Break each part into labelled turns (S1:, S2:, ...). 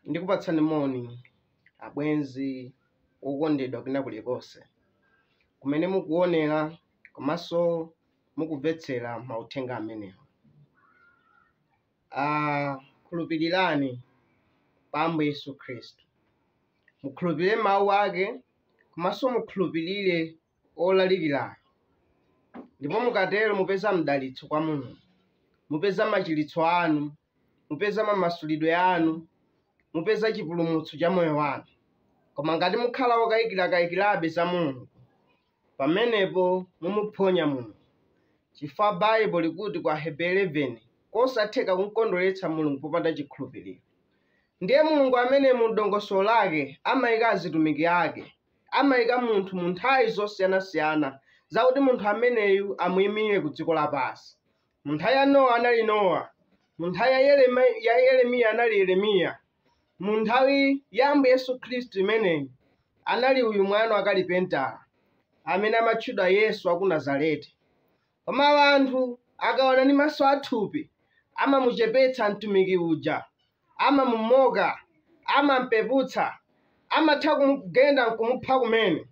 S1: ndikupatsani moni abwenzi okondedwa kwina kulikonse kumene mukuonera komanso mukumvetsera mauthenga amenewa Ah, khulupirirani pa Ambuye Yesu Khristu. Mukhulupirire Mawu Ake, komanso mukhulupirire wolalikirayo. Ndipo mukatero mupeza mdalitso kwa Mulungu. Mupeza machiritso anu, mupeza mamasulidwe anu, mupeza chipulumutso cha moyo wanu. Koma ngati mukhala wokayikirakaikirabe za Mulungu, pamenepo mumuphonya Mulungu, chifukwa Baibo likuti ku Aheberi 11, kosatheka kumkondweretsa Mulungu popanda chikhulupiriro. Ndiye Mulungu ameneyu mu dongosolo lake amaika azitumiki ake, amaika munthu mu nthawi zosiyanasiyana zakuti munthu ameneyu amuimire ku dziko lapansi. mu nthawi ya nowa anali nowa mu nthawi ya Yeremi- ya yeremiya anali yeremiya mu nthawi ya ambuye yesu khristu imeneyi anali uyu mwana wa kalipentala amene amatchedwa yesu wa ku nazareti koma anthu akaona ndi maso athupi amamuchepetsa mtumiki uja amamumocka amampeputsa amatha kumugenda nkumupha kumene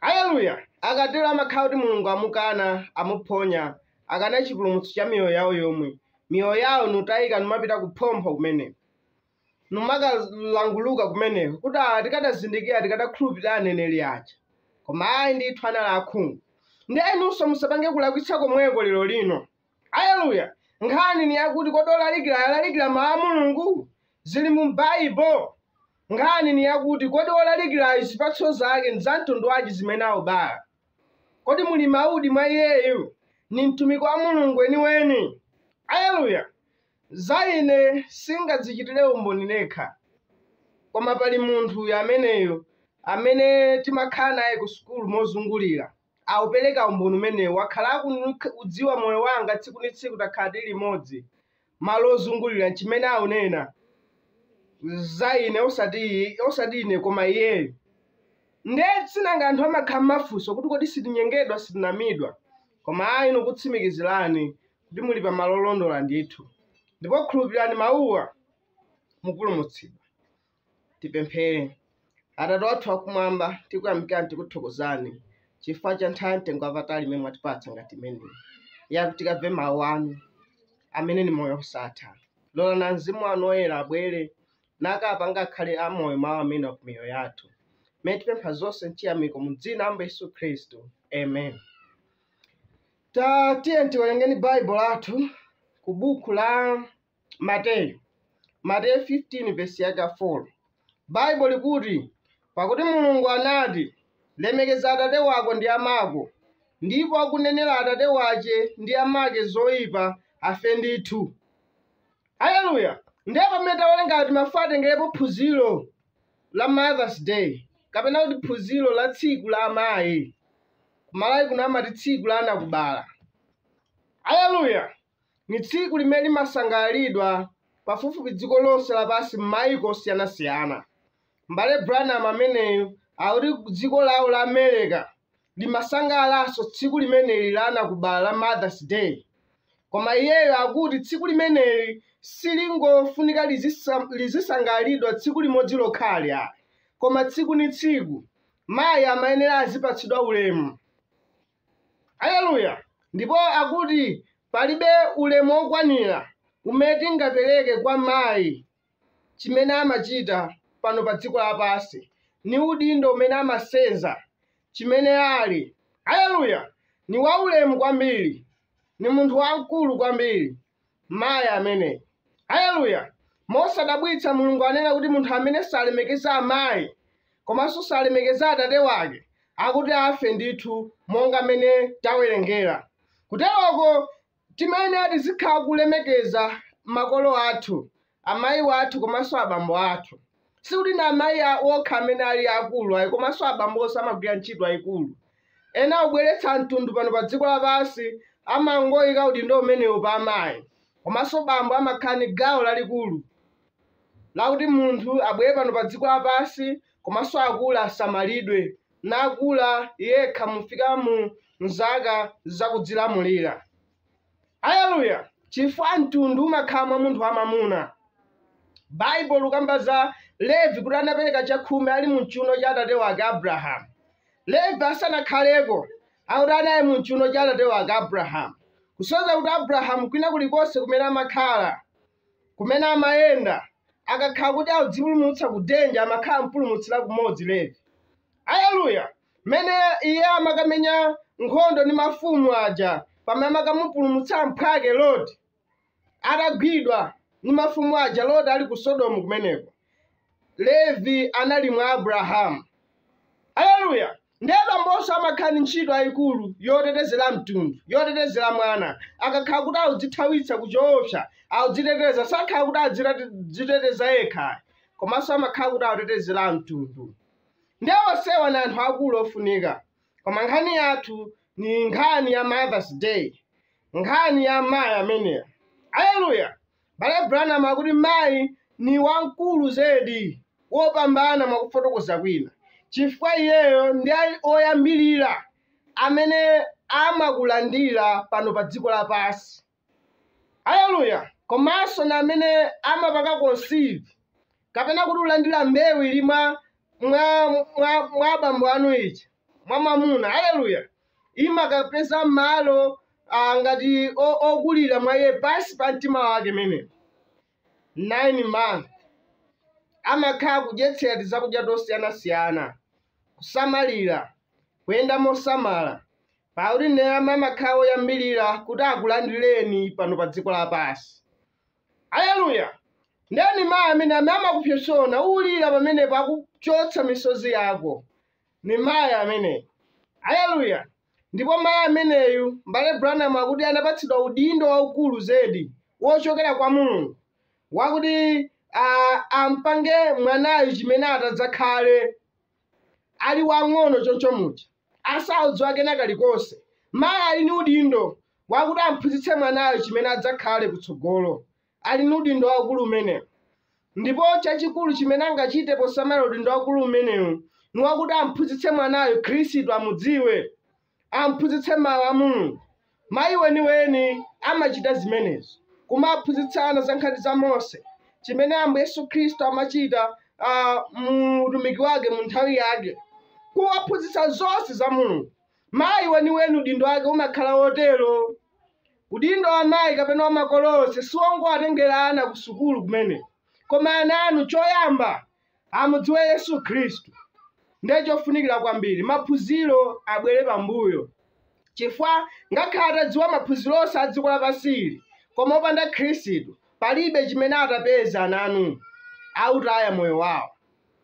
S1: Aleluya! Akatero amakhala kuti Mulungu amukana, amuphonya, akana chipulumutso cha miyoyo yawo yomwe, miyoyo yawo nikutayika nimapita kuphompho kumeneko, nimakalanguluka kumeneko kuti ah, tikadazindikira tikadakhulupirira aneneri aja, koma ayi ndithu anali akhungu. Ndiye inunso musapange kulakwitsa komweko lero lino. Aleluya! Nkhani ni yakuti kodi olalikira alalikira mawu a Mulungu? Zili mu Baibo. Nkhani ni yakuti, kodi wolalikila'yu zipatso zake ni za mtundu wanji zimene aubala? Kodi muli mawu mwa iyeyu? Ni mtumiki wa Mulungu weni-weni? Aleluya! Za ine singadzicitile umboni nekha. Koma pali munthu uyu ameneyu amene timakhala naye ku sukulu mozungulila, aupeleka umboni umenewu, wakhala akuudziwa moyo wanga tsiku ni tsiku takhala tili limodzi. malo ozungulira nchimene aunena za ine osati iye- osati ine koma iyeyo nde sinanga anthu amakhala ndi mafunso kuti kodi sitinyengedwa sitinamizidwa koma ayi nikutsimikizirani kuti muli pa malo olondola ndithu ndipo khulupirirani mawuwa mupulumutsidwa Tipemphere. Atate wathu wakumwamba, tikuyamikani, tikuthokozani chifukwa cha nthawi ya mtengo wapatali imene mwatipatsa ngati imeneyi yakuti tikamve mawu anu amene ni moyo wosatha. Lolani mzimu wanu woyera abwere nakapanga akhale amoyo mawu amenewa ku miyoyo yathu mmene tipempha zonse mchiyamiko mu dzina la Ambuye Yesu Khristu, amen. Tatiyeni tiwerenge Baibulo lathu ku buku la Mateyu, Mateyu 15 vesi yake ya 4 baibulo likuti pakuti mulungu anati lemekeza atate wako ndi amako ndipo wakunenera atate wace ndi amace zoipa afe ndithu aleluya ndiye pamene tawerenga timafuna titengerepo phunziro la mothers day kapena kuti phunziro la tsiku la amayi kumalawi kuno amati tsiku la anakubala aleluya Ni tsiku limene limasangalalidwa pafupifupi dziko lonse lapansi m'maiko osiyana-siyana. M'bale Branham ameneyu akuti dziko lawo la Amereka limasangalalanso tsiku limeneli la anakubala la Mother's Day. Koma iyeyo akuti tsiku limeneli silingofunika lizisa- lizisangalalidwa tsiku limodzi lokha ayi, koma tsiku ni tsiku. Mayi amayenera azipatsidwa ulemu. Aleluya! Ndipo akuti palibe ulemu wokwanira umene tingapereke kwa mayi, chimene amachita pano pa dziko lapansi, ni udindo umene amasenza, chimene ali. Aleluya! Ni waulemu kwambiri, ni munthu wamkulu kwambiri. mayi ameneyu aleluya mosadabwitsa mulungu anena kuti munthu amene salemekeza amayi komanso salemekeza atate wake akuti afe ndithu monga mmene tawerengera kuteroko timayenera tizikhala kulemekeza makolo athu amayi wathu komanso abambo athu sikuti ndi amayi okha amene ali akulu ayi komanso abambonso amagwira ntchito yaikulu yakubweretsa munthu pano pa dziko lapansi samangoyika udindo umenewu pa amayi komanso bambo amakhala ndi gawo lalikulu lakuti munthu abwere pano pa dziko lapansi komanso akule asamalidwe nakula yekha nufika mu mzaka zakudzilamulira Aleluya! Chifukwa mtundu umakhala mwa munthu wamwamuna. Baibulo likukamba za Levi kuti anapereka chakhumi ali mu mchiuno cha atate wake Abrahamu. Levi asanakhaleko akuti anali mu mchiuno cha atate wake Abrahamu, kusonyeza kuti Abrahamu kwina kulikonse kumene amakhala, kumene amayenda, akakhala kuti akudzipulumutsa ku danger, amakhala ampulumutsira kumodzi Levi. Aleluya! mmene iye amakamenya nkhondo ndi mafumu aja pamene amakamupulumutsa mphwake loti atagwidwa ndi mafumu aja loti ali ku sodomu kumeneko levi anali mwa abrahamu aleluya ndiye bambonso amakhala ndi ntchito yayikulu yotetezera mtundu yotetezera mwana akakhala kuti audzithawitsa ku choopsa audziteteza samakhala kuti adziteteza yekha ayi komanso amakhala kuti autetezera mtundu Nde osewa ni anthu akulu ofunika koma nkhani yathu ni nkhani ya mothers day nkhani ya mayi ameneyo aleluya m'bale branham akuti mayi ni wamkulu zedi wopambana mwakufotokoza kwina chifukwa iyeyo ndi oyambilira amene amakulandira pano pa dziko lapansi Aleluya! Komanso ni amene amapanga conceive, kapena kuti ulandira mbewu ili mwa mwa mwa mwa abambo anu ija mwa mwamuna. Aleluya! Imakapeza malo ah, ngati o- okulira mwa iye pansi pa mtima wake mmenemo. 9 months amakhala akudyetsera tizakudya tosiyanasiyana kusamalira kuyenda mosamala pakuti ndi amene amakhala oyambirira kuti akulandireni pano pa dziko lapansi aleluya ndeni mayi amene amene amakupsopsona ulira pamenepo akuchotsa misozi yako ni mayi ameneyo aleluya Ndipo mayi ameneyu, M'bale Branham akuti, anapatsidwa udindo waukulu zedi wochokera kwa Mulungu, wakuti a, ampange mwanayu chimene atadzakhale, ali wamng'ono choncho muja, asaudziwa kena kalikonse. Mayi ali ndi udindo wakuti amphunzitse mwanayo chimene adzakhale kutsogolo. ali ndi udindo waukulu umenewu ndipo chachikulu chimene angachite poti mayi udindo waukulu umenewu ni wakuti amphunzitse mwanayo khristu amudziwe amphunzitse mawu a mulungu mayi weniweni amachita zimenezo kumaphunzitsa ana za nkhani za mose chimene ambuye yesu khristu amachita ah, mu utumiki wake mu nthawi yake kuwaphunzitsa zonse za mulungu Mayi weniweni udindo wake umakhala wotero. Udindo wa mayi kapena wa makolo onse si wongowatengera ana ku sukulu kumene, koma ana anu choyamba amudziwe Yesu Khristu. Ndiye chofunikira kwambiri, maphunziro abwere pambuyo. Chifukwa ngakhale atadziwa maphunziro onse a dziko lapansi ili, koma opanda Khristu, palibe chimene atapeze ana anu. Autaya moyo wawo.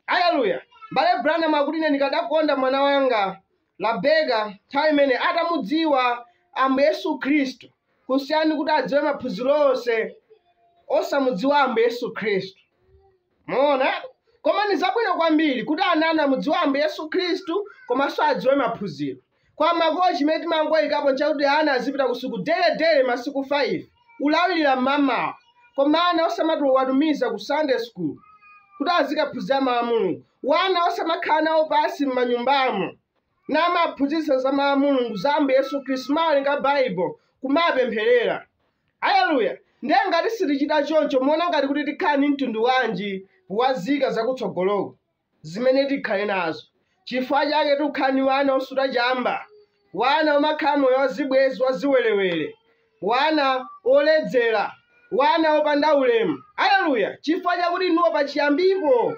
S1: Aleluya! M'bale Branham akuti, Ine ndikadakonda mwana wanga Rebeka nthawi imene atamudziwa Ambuye Yesu Khristu kusiyana n'kuti adziwe maphunziro onse osamudziwa Ambuye Yesu Khristu. Mwaona? Koma ni zabwino kwambiri kuti ana anu amudziwe Ambuye Yesu Khristu komanso adziwe maphunziro. Koma makolo chimene timangoyikapo nchakuti ana azipita ku sukulu dere dere masiku 5 kulawirira mmamawa koma ana osamatha kuwatumiza ku sunday school kuti azikaphunzira mawu a mulungu wana osamakhala nawo pansi m'manyumbamo n'kumawaphunzitsa za mawu a mulungu za ambuye yesu khristu kumawerenga baibulo kumawapempherera haleluya ndiye ngati sitichita choncho muona ngati kuti tikhala ni mtundu wanji wazika zakutsogoloko zimene tikhale nazo. Chifukwa chake tukhala ni wana osuta chamba, wana omakhala moyo wazibwezi wachiwelewele, wana oledzela, wana opanda ulemu. Aleluya! Chifukwa chakuti inuwo pachiyambipo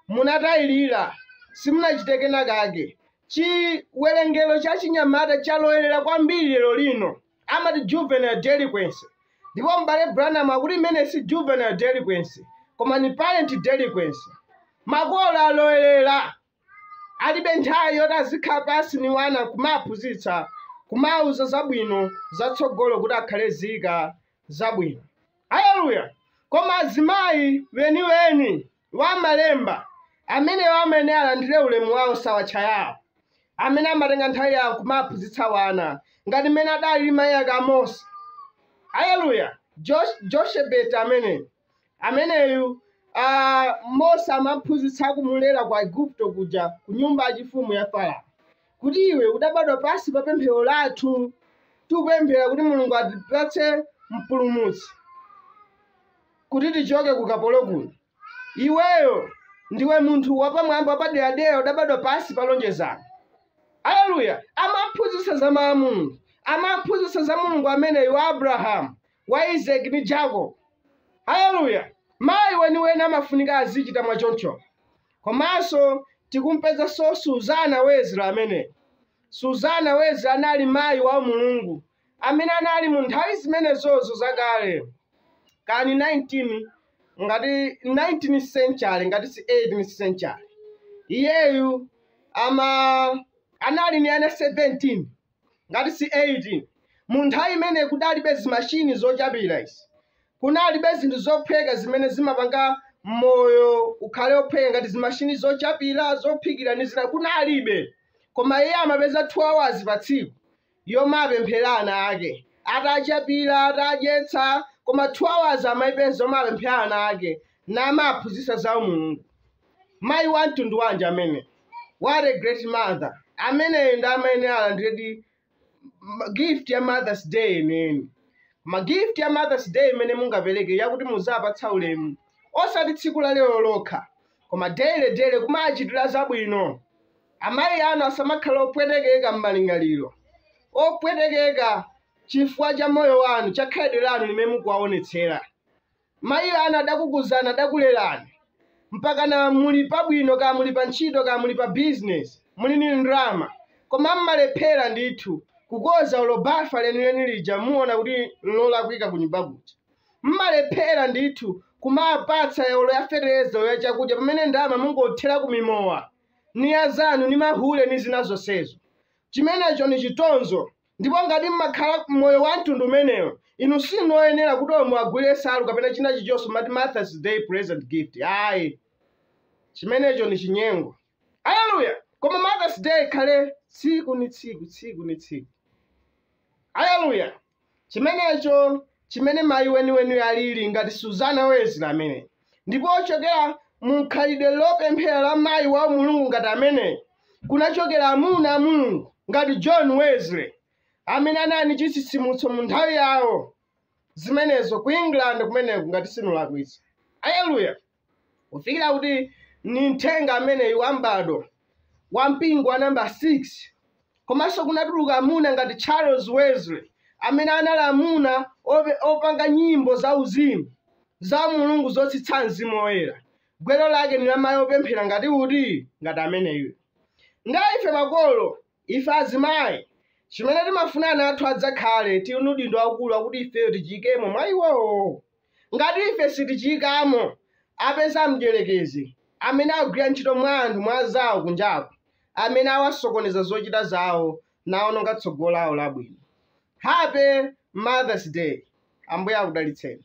S1: munatayilila, simunachite kena kake. Chiwelengelo cha chinyamata chalowelela kwambiri lero lino. amati juvenile delinquency ndipo m'bale branham akuti imene si juvenile delinquency koma ni parent delinquency makolo alowerera alibe nthawi yoti azikhala pansi ni wana kumawaphunzitsa kumawauza zabwino zatsogolo kuti akhale zika zabwino haleluya koma azimayi weniweni wa malemba amenewo amene alandire ulemu wawo si awa tchayawo amene amatenga nthawi yawo kumaphunzitsa wana ngati mmene adali mayi ake a mose aleluya Josh- joshebet ameneyu ameneyu ah, mose amamuphunzitsa kumulera ku igupto kuja ku nyumba yachifumu ya farao kuti iwe udabadwa pansi pa pemphero lathu tikupemphera kuti mulungu atipatse mpulumutsi kuti tichoke ku ukapolo kuno. Iweyo ndiwe munthu wapamwamba wapaderadera udabadwa pansi pa lonjezano. Aleluya! Amamuphunzitsa za mawu a Mulungu, amamuphunzitsa za Mulungu ameneyu wa Abrahamu, wa Isake ndi Jacob. Aleluya! Mayi weniweni amafunika azichita mwa choncho. Komanso tikumpezanso Suzana Wesley ameneyo. Suzana Wesley anali mayi wa umulungu, amene anali mu nthawi zimenezozo zakale, kani 19 ngati 19 century ngati si 18 century, iyeyu ama anali ni ana 17 ngati si 18 mu nthawi imene kudalibe zimashini zochapira izi kunalibe zinthu zophweka zimene zimapanga moyo ukhale ophweka ngati zimashini zochapira zophikira ndi zina kunalibe koma iye amapeza 2 hours pa tsiku yomapemphera ana ake atachapira atadyetsa koma 2 hours amayipeza yomapemphera ana ake namaphunzitsa za umulungu mayi wa mtundu wanji amene what a great mother ameneyo ndi amayenera alandiredi gift ya mothers day yeniyeni koma gift ya mothers day imene mungapereke yakuti muzapatsa ulemu osati tsiku la lero lokha koma daily daily kumachitira zabwino Amayi anu asamakhala opwetekeka m'malingaliro, opwetekeka chifukwa cha moyo wanu, cha khalidwe lanu limene mukuwaonetsera. Mayi anu adakukuzani, adakulerani, mpakana muli pabwino, kaya muli pantchito, kaya muli pa bizinesi, muli ndi ndalama, koma m'malephera ndithu kukonza olo bafa lenileni lija mukuona kuti nlolakwika kunyumba kuja. M'malephera ndithu kumawapatsa olo ya feteleza olo ya chakudya pamene ndalama mukungothera ku mimowa. ni azanu ni mahule ni zina zonsezo chimenecho ni chitonzo ndipo ngati mmakhala moyo wa mtundu umenewo inu sinu oyenera kuti omwe agule nsalu kapena china chilichonso mati mothers day present gift ayi chimenecho ni chinyengo haleluya koma mothers day ikhale tsiku ni tsiku tsiku ni tsiku haleluya chimenecho chimene mayi weniweni alili ngati Susana Wesley ameneyu, ndipo kuchokera mu mkhalidwe lopemphera la mayi wa umulungu ngati ameneyu kunachokera amuna a Mulungu ngati John Wesley amene anali ndi chitsitsimutso mu nthawi yawo zimenezo ku England kumeneko ngati sindikulakwitsa. Aleluya! kufikira kuti ni mthenga ameneyu wa m'bado wa mpingo wa namba 6 komanso kunatuluka amuna ngati charles wesley amene anali amuna ope- opanga nyimbo za uzimu za mulungu zotsitsa mzimu woyera gwero lake ni lamayi opemphera ngati kuti ngati ameneyu nde ife makolo ife azimayi chimene timafuna ana athu adzakhale tili ni udindo waukulu wakuti ifeyo tichiyikemo mwa iwowo Ngati ife sitichiikamo, apeza mdierekezi, amene akugwira ntchito mwa anthu, mwa anzawo kunjaku, amene awasokoneza zochita zawo nawononga tsogolo lawo labwino. Happy Mother's Day! Ambuye akudalitseni.